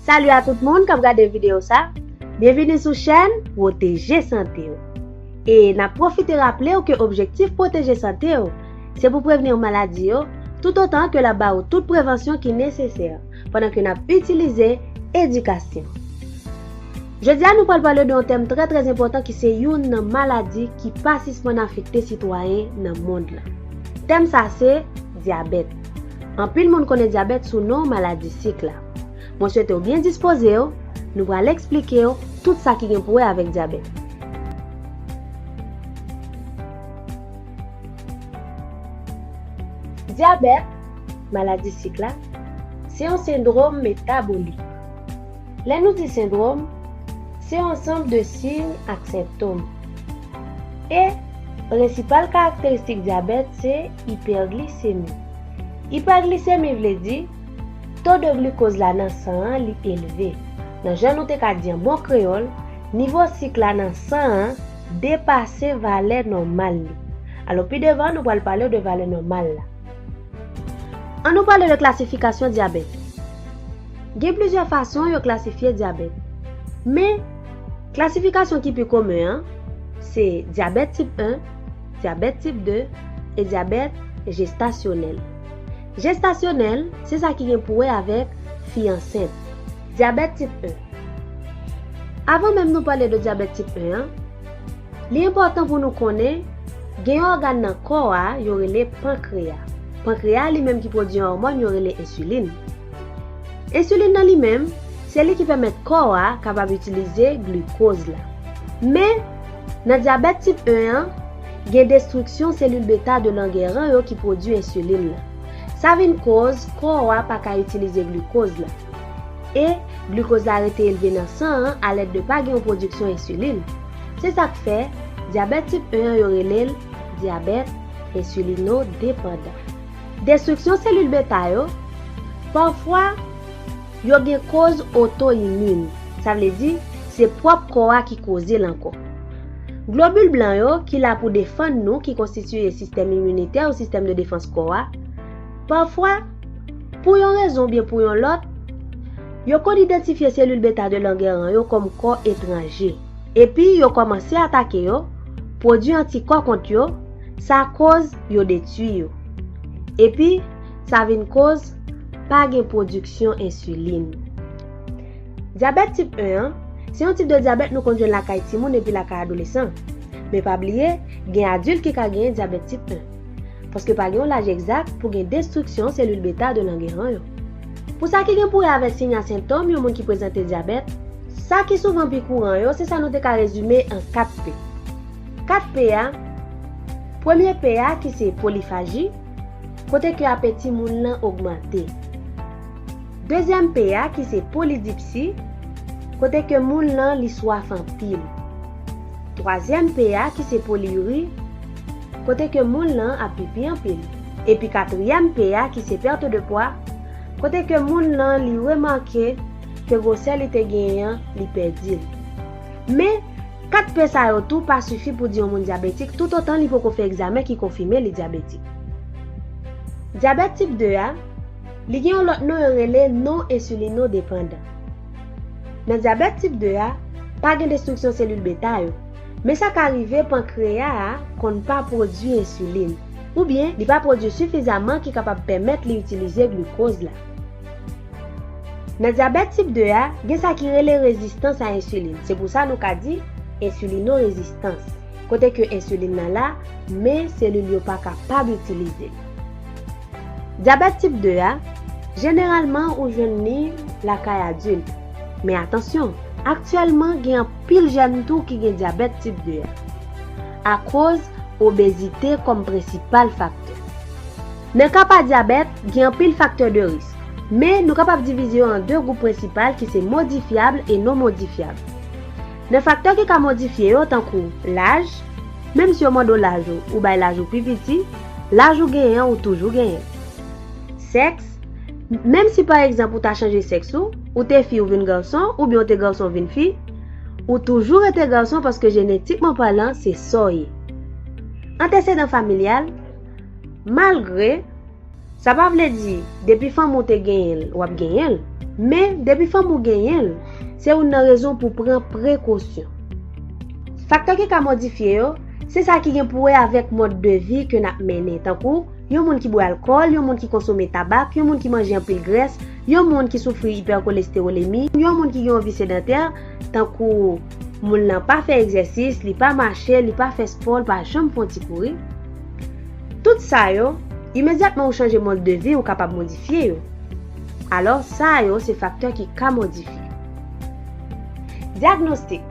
Salut a tout moun kap gade video sa. Byenvini sou chèn Pwoteje Sante w. E na pwofite raple w ke objektif Pwoteje Sante w se pou prevenir maladi yo tout otan ke lap ba ou tout prevansyon ki nesesè pandan ke nap itilize edikasyon. Jodi a nou pral pale de yon tèm trè trè enpòtan ki se youn nan maladi ki pa sispann afekte sitwayen nan mond lan. Tèm sa se, dyabèt. Anpil moun konnen dyabèt sou non maladi sik la. Mwen swete w byen dispoze w, nou pral eksplike w tout sa ki gen pou wè avèk dyabèt. Dyabèt, maladi sik la, se yon sendrom metabolik. Lè nou di sendwòm, se ansanm de siy ak senptom. E, prensipal karakteristik dyabèt se ipèglisemi. Ipèglisemi vle di, to de glukoz la nan san an li elve. Nan jan nou te ka di an bon kreyòl, nivo sik la nan san an depase valè nòmal li. Alò pi devan nou pral pale de valè nòmal la. An nou pale de klasifikasyon dyabèt. Gen plizyè fason yo klasifye dyabèt. Men, klasifikasyon ki pi komen an, se dyabèt tip 1, dyabèt tip 2, e dyabèt jestasyonèl. Jestasyonèl, se sa ki gen pou wè avèk fi ansent. Dyabèt tip 1. Avan menm nou pale de dyabèt tip 1 an, Li enpòtan pou nou konnen, gen yon ògàn nan kò a yo rele pankreya. Pankreya a li menm ki pwodui yon òmòn yo rele ensilin. Ensilin nan li menm, se li ki pèmèt kò a kapab itilize glikoz la. Men, nan dyabèt tip 1 an, gen destriksyon selil beta 2 Langeran yo ki pwodui ensilin lan. Sa vin koz kò a pa ka itilize glikoz la. E, glikoz la rete elve nan san an alèd de pa gen yon pwodiksyon ensilin. Se sa k fè, dyabèt tip 1 an yo rele l dyabèt ensilinodepandan. Destriksyon selil beta yo, Pafwa, yo gen koz otoimin, sa vle di, se pwòp kò a ki koze l ankò. Globil blan yo, ki la pou defann nou, ki konstitiye sistèm iminitè ou sistèm de defans kò a, Pafwa, pou yon rezon oubyen pou yon lòt, yo konn idantifye selil beta de Langeran yo kòm kò etranje, epi yo kòmanse atake yo, pwodui antikò kont yo, sa koz yo detui yo. Epi, sa vin koz pa gen pwodiksyon ensilin. Dyabèt tip 1 an, se yon tip de dyabèt nou konn jwenn lakay timoun epi lakay adolesan. Men pa bliye, gen adilt ki ka genyen dyabèt tip 1. paske pa gen yon laj egzak pou gen destriksyon selil beta 2 Langeran yo. Pou sa ki gen pou wè avèk siy a sentòm yon moun ki prezante dyabèt, sa ki souvan pi kouran yo se sa nou te ka rezime an 4 P. 4 P a, premye P a ki se polifaji, kote ke apeti moun lan ogmante. Dezyèm P a ki se polidipsi, kote ke moun lan li swaf anpil. Twazyèm P a ki se poliyuri, kote ke moun lan ap pipi anpil. Epi katriyèm P a ki se perte de pwa, kote ke moun lan li remake ke gwosè li te genyen an li pèdi l. Men, 4 P sa yo tou pa sifi pou di yon moun dyabetik toutotan li poko fè egzamen ki konfime li dyabetik. Dyabèt tip 2 a, li gen yon lòt non yo rele non ensilino depandan. Nan dyabèt tip 2 a, pa gen destriksyon selil beta yo. Men sa ka rive pankreya a konn pa pwodui ensilin, oubyen li pa pwodui sifizaman ki kapab pèmèt li itilize glukoz la. Nan dyabèt tip 2 a, gen sa ki rele rezistans a ensilin, se pou sa nou ka di ensilino-rezistans, kote ke ensilin nan la, men selil yo pa kapab itilize l. Dyabèt tip 2 a, jeneralman ou jwenn li lakay adilt, men atansyon, aktyèlman gen anpil. Pil jèn tou ki gen dyabèt tip 2 a. Akoz obezite kòm prensipal faktè. Nan ka pa dyabèt, gen anpil faktè de risk. Men nou kapab divize yo an 2 gwoup prensipal ki se modifyab e non modifyab. Nan faktè ki ka modifye yo tankou laj, menm si yo mande w laj ou, ou bay laj ou pi piti, laj ou genyen an ou toujou genyen. Sèks, Menm si pa egzanp ou ta chanje sèks ou, ou te fi ou vin gason, oubyen ou te gason vin fi, ou toujou rete gason paske jenetikman palan se sa w ye. Antesedan familyal, malgre, sa pa vle di depi fanmi w te genyen l, w ap genyen l, men depi fanmi w genyen l, se youn nan rezon pou pran prekosyon. Faktè ki ka modifye yo, se sa ki gen pou wè avèk mòd de vi ke n ap mennen, tankou, yon moun ki bwè alkòl, yon moun ki konsome tabak, yon moun ki manje anpil grès, yon moun ki soufri ipèkolestewolemi, yon moun ki gen yon vi sedantè, tankou moun lan pa fè egzèsis, li pa mache, li pa fè spò, li pa janm fon ti kouri. Tout sa yo, imedyatman ou chanje mòd de vi ou kapab modifye yo. Alò, sa yo se faktè ki ka modifye. Dyagnostik.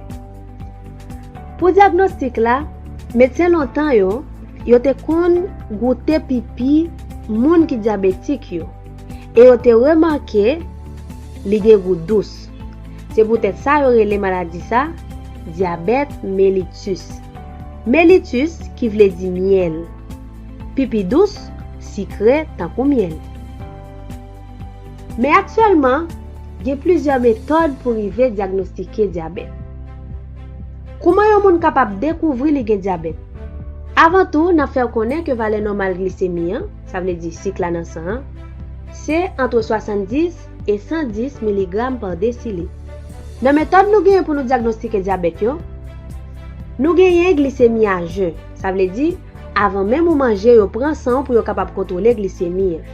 Pou dyagnostik la, medsen lontan yo, yo te konn goute pipi moun ki dyabetik yo, e yo te remake li gen gou dous. Se poutèt sa yo rele maladi sa dyabèt melitus. Melitus ki vle di myèl. Pipi dous, sikre tankou myèl. Men aktyèlman, gen plizyè metòd pou rive dyagnostike dyabèt. Kouman yon moun kapab dekouvri li gen dyabèt? Avan tou, n ap fè w konnen ke valè nòmal glisemi an, sa vle di sik la nan san an, se antre 70 e 110 miligram pa desilitre. Nan metòd nou genyen pou nou dyagnostike dyabèt yo, nou genyen glisemi a jen, sa vle di avan menm ou manje yo pran san w pou yo kapab kontwole glisemi an.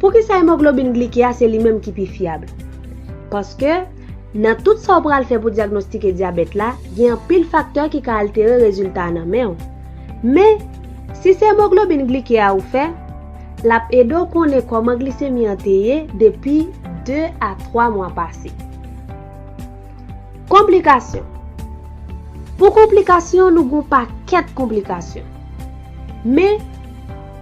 Poukisa emoglobin glike a se li menm ki pi fyab? Paske, nan tout sa w pral fè pou dyagnostike dyabèt la, gen anpil faktè ki ka altere rezilta a nan men w. Men, si se emoglobin glike a ou fè, l ap ede w konnen kòman glisemi an te ye depi 2 a 3 mwa pase. Konplikasyon Pou konplikasyon nou gen yon pakèt konplikasyon. Men.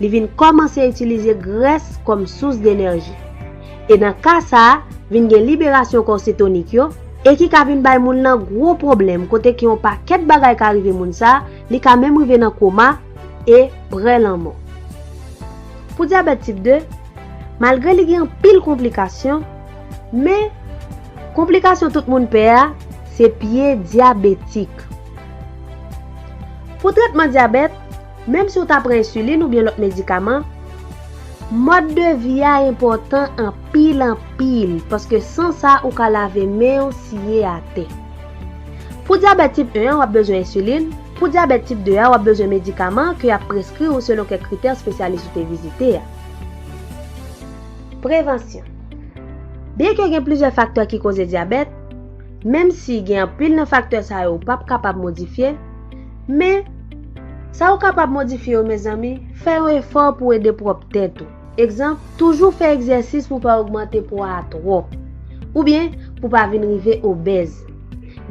Li vin kòmanse itilize grès kòm sous denèji. E nan ka sa, vin gen liberasyon kò setonik yo, e ki ka vin bay moun lan gwo pwoblèm kote ke yon pakèt bagay ka rive moun sa, li ka menm rive nan koma, e prè lanmò. Pou dyabèt tip 2, malgre li gen anpil konplikasyon, men, konplikasyon tout moun pè a, se pye dyabetik. Pou trètman dyabèt, Menm si w ta pran ensilin oubyen lòt medikaman, mòd de vi a enpòtan anpil anpil paske san sa ou ka lave men w siye atè. Pou dyabèt tip 1 an w ap bezwen ensilin, pou dyabèt tip 2 a w ap bezwen medikaman ke y ap preskri ou selon kèk kritè spesyalis ou te vizite a. Prevansyon Byenke gen plizyè faktè ki koze dyabèt, Menm si gen anpil nan faktè sa yo ou pap kapab modifye, men, sa ou kapab modifye yo mezanmi, fè yon efò pou w ede pwòp tèt ou. Egzanp, toujou fè egzèsis pou w pa ogmante pwa a twòp. Oubyen, pou w pa vin rive obèz.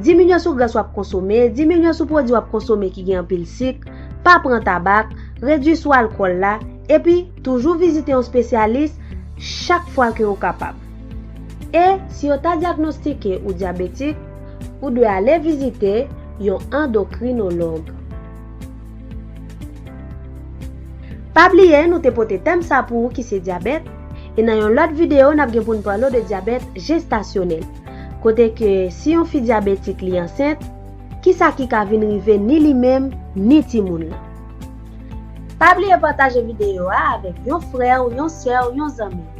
Diminye sou gras w ap konsome, diminye sou pwodui w ap konsome ki gen anpil sik, pa pran tabak, redui sou alkòl la, epi, toujou vizite yon spesyalis chak fwa ke ou kapab. E si yo ta dyagnostike ou dyabetik, ou dwe ale vizite yon andokrinològ. Pa bliye nou te pote tèm sa pou ou ki se dyabèt, e nan yon lòt video nap gen poun pale w de dyabèt jestasyonèl, kote ke si yon fi dyabetik li ansent, kisa ki ka vin rive ni li menm ni timoun lan. Pa bliye pataje video a avèk yon frè w, yon sè w, yon zanmi w.